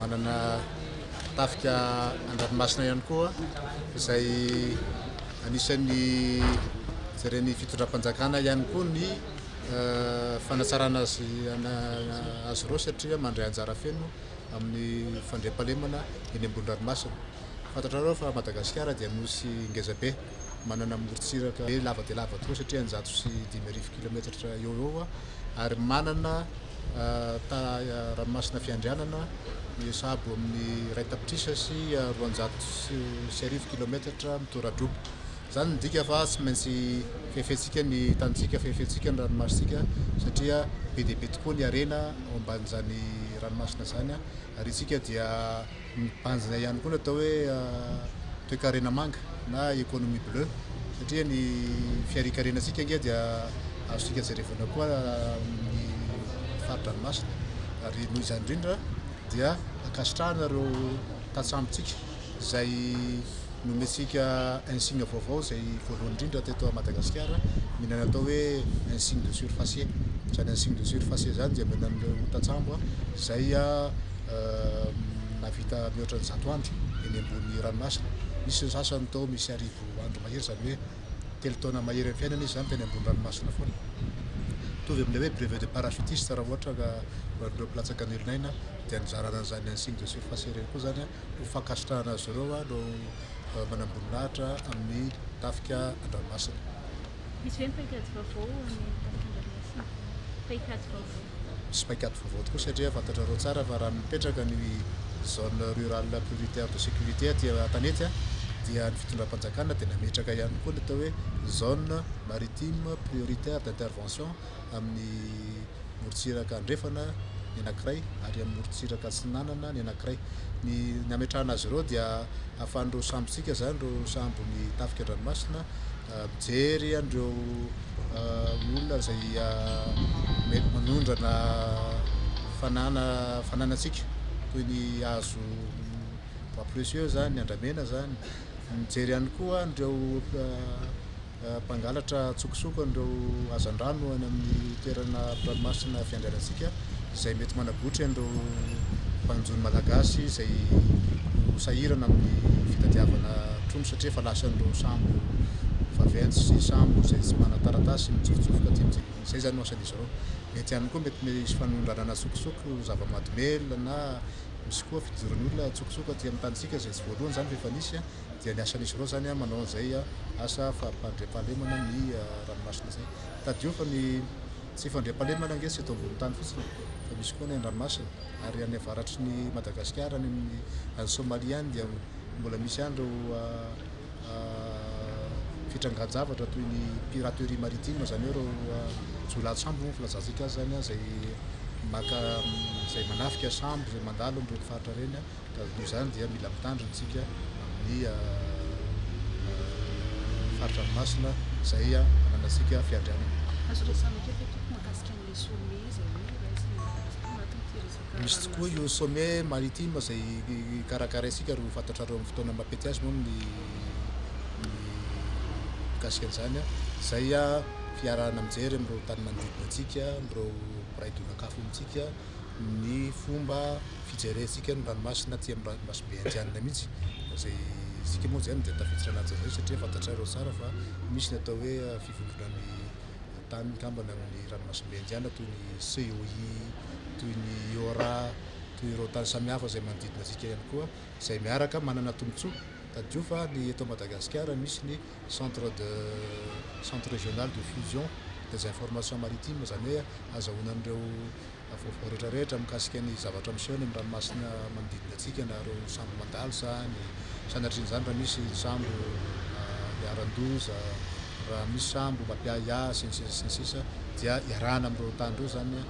Manana tafika an-dranomasina ihany koa izay anisan'ny jeren'ny fitondram-panjakana ihany koa ny fanatsarana azy azy ireo satria mandray anjara feno amin'ny fandriampahalemana eny ambony ranomasina. Fantatrareo fa Madagasikara dia nosy ngeza be, manana morontsiraka be lava dia lava tokoa satria eninjato sy dimy arivo kilaometatra eo ho eo ary manana Taha Ranomasina Fiandrianana, misabo amin'ny iray tapitrisa sy roanjato sy arivo kilaometatra mitora-droboka. Izany midika fa tsy maintsy fefentsika ny tanintsika, fefentsika ny ranomasontsika satria be dia be tokoa ny harena ao ambanin'izany ranomasina izany ary isika dia Ny tanjona ihany koa ny atao hoe toekarena manga na economie bleue satria ny fiharikarenantsika ange dia azontsika jerevana koa ny fari-dranomasina ary noho izany indrindra dia ankasitrahana ireo tantsambontsika izay Nomentsika insigne vaovao izay voalohany indrindra teto à Madagasikara, milay natao hoe insigne de surfacier. Izany insigne de surfacier izany dia omena an'ireo tantsambo izay nahavita mihoatra ny zato andro eny ambony ranomasina. Nisy ny sasany tao misy arivo andro mahery, izany hoe telo taona mahery amin'ny fiainana izy izany teny ambony ranomasina foana. Mitovy amin'ilay hoe brevet de parachutiste raha ohatra ka ho an'ireo mpilatsaka an'elon'aina dia nizarana an'izany insigne de surfacier ireny koa izany. Ho fankasitrahana azy ireo aho no manamboninahitra amin'ny Tafika Andranomasina. Misy ve ny paikady vaovao ho an'ny Tafika Andranomasina? Paikady vaovao. Misy paikady vaovao tokoa satria fantatrareo tsara fa raha mipetraka ny Zone Rurale Prioritaire de Sécurité aty Antanety dia ny fitondram-panjakana dia nametraka ihany koa ny atao hoe Zone Maritime Prioritaire d'Intervention amin'ny morontsiraka andrefana ny anankiray ary amin'ny morontsiraka atsinanana ny anankiray. Ny ny hametrahana azy ireo dia ahafahan'ireo sambontsika izany, ireo sambon'ny tafika an-dranomasina, mijery an'ireo olona izay mety manondrana fanana fananantsika toy ny hazo bois précieux izany, ny andramena izany, mijery ihany koa an'ireo Mpangalatra antsokosoko an'ireo hazandrano any amin'ny toerana mpiranomasina fiandrianantsika izay mety manabotry an'ireo mpanjono malagasy izay ho sahirana amin'ny fitadiavana trondro satria efa lasan'ireo sambo vaventy sy sambo izay tsy manan-taratasy mitsofotsofoka aty amintsika. Izay izany no asan'izy ireo. Mety ihany koa mety misy fanondranana antsokosoko, zava-mahadomelina na misy koa fidiran'olona antsokosoko aty amin'ny tanintsika izay tsy voalohany izany fa efa nisy. dia ny asan'izy ireo izany manao an'izay asa fampandriampahalemana ny ranomasina izay. Tadidio fa ny tsy fandriampahalemana ange tsy eto ambony tany fotsiny e, fa misy koa ny any ranomasina, ary any avaratry ny Madagasikara any amin'ny any Somalia any dia mbola misy any ireo fitrangan-javatra toy ny piraterie maritime izany hoe ireo jiolahy an-tsambo moa ny filazantsika azy izany izay maka izay manafika sambo izay mandalo amin'ireny faritra ireny. Noho izany dia mila mitandrina isika amin'ny fari-dranomasina izay ananantsika fiandrianana. Azo resahana kely ve tompoko mahakasika an'ilay sommet izay hoe raisina eo Madagasikara ao anatin'ity resaka ranomasina. Misy tokoa io sommet maritime izay karakaraintsika ary ho fantatrareo amin'ny fotoana mampety azy moa ny mikasika an'izany izay fiarahana mijery amin'ireo tany manodidina antsika, amin'ireo mpiray donak'afo amintsika. ny fomba fijerentsika ny ranomasina aty amin'ny ranomasimbe indianina mihitsy izay isika moa izany dia tafiditra anaty izay satria fantatrareo tsara fa misy ny atao hoe fivondronan'ny tany mikambana amin'ny ranomasimbe indianina toy ny COI toy ny IORA toy ireo tany samihafa izay manodidina antsika ihany koa izay miaraka manana tombontsoa tadidio fa ny eto Madagasikara misy ny Centre de Centre Régional de Fusion des Informations Maritimes, izany hoe azahoana an'ireo vaovao rehetra rehetra mikasika ny zavatra miseho any amin'ny ranomasina manodidina antsika na ireo sambo mandalo sa ny sanatrian'izany raha misy sambo iharan-doza, raha misy sambo mampiahiahy sy ny sisa sy ny sisa dia iarahana amin'ireo tany ireo izany io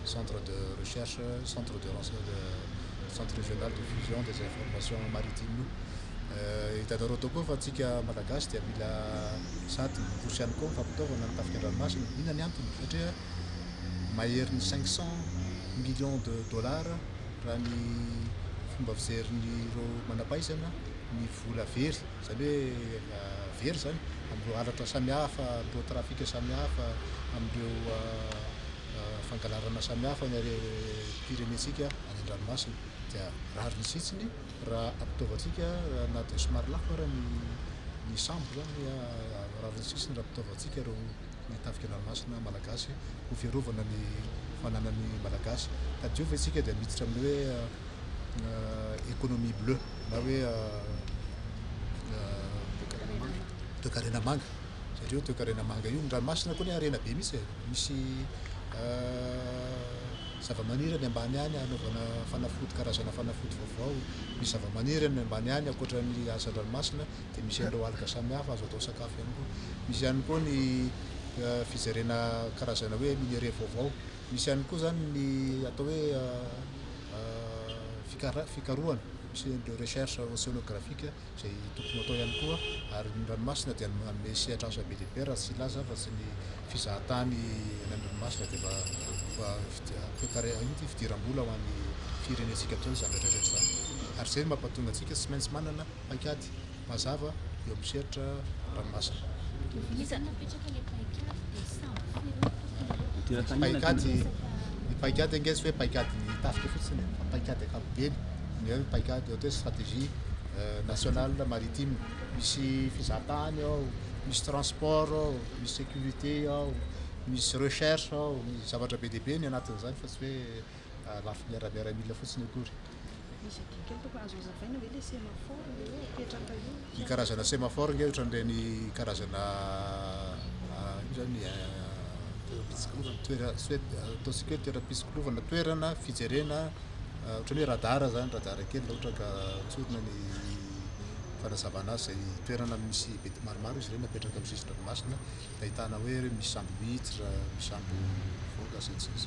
Centre de Recherche Centre de Centre Régional de Fusion des Informations Maritimes io. Hitanareo tokoa fa tsika malagasy dia mila sady miroso ihany koa fampitaovana ny tafika an-dranomasina. Inona ny antony? Satria maherin'ny cinq cent millions de dollars raha ny fomba fijerin'ireo manampahaizana ny vola very, izany hoe very izany amin'ireo halatra samihafa, amin'ireo trafic samihafa, amin'ireo fangalarana samihafa ny pirenentsika any an-dranomasina. Dia rariny sitsiny. raha ampitaovantsika na dia somary lafo ara ny ny sambo izany rariny sisiny raha ampitaovantsika ireo ny tafika an-dranomasina malagasy ho fiarovana ny fananan'ny malagasy ka dia eo ve isika dia miditra amin'ny hoe économie bleue na hoe toekarena manga satria io toekarena manga io ny ranomasina koa anie harena be mihitsy e misy zavamaniry any ambany any hanaovana fanafody karazana fanafody vaovao. Ny zavamaniry any ambany any ankoatra ny asa an-dranomasina dia misy an'ireo alga samihafa azo atao sakafo ihany koa. Misy ihany koa ny fijerena karazana hoe minerais vaovao. Misy ihany koa izany ny atao hoe fikara- fikarohana, misy an'ireo recherche oceanographique. izay tokony ho atao ihany koa ary ny ranomasina dia manome sehatra asa be dia be raha tsy hilaza afa tsy ny fizahantany any amin'ny ranomasina dia mba mba toekare inona ity fidiram-bola ho an'ny firenentsika toa izany rehetra rehetra izany ary izay no mampatonga antsika tsy maintsy manana paikady mazava eo amin'ny sehatra ranomasina. Iza no napetraka ilay paikady dia samy koa ireo fokonolona? Paikady ny paikady ange tsy hoe paikadin'ny tafika fotsiny e, fa paikady ankapobeny. ny hoe paicad ohatra hoe stratégie nationale maritime misy fizahantany ao, misy transport ao, misy sécurité ao, misy recherche ao, misy zavatra be dia be ny anatin'izany fa tsy hoe lafy miara miaramila fotsiny akory. Misy adin-kely tompoko, azo azavaina ve le semaphore le hoe apetraka eo? Ny karazana semaphore nge otran'ireny karazana ino zany toerana ataontsika hoe toeram-pitsikolovana toerana fijerena otran'ny hoe radar zany radar kely raha ohatra ka tsorina ny fanazavana azy zay toerana misy be maromaro izy ireny apetraka amin'ny sisin-dranomasina ahitana hoe misy sambo miditra misy sambo mivoaka sy ny sisa sy ny sisa.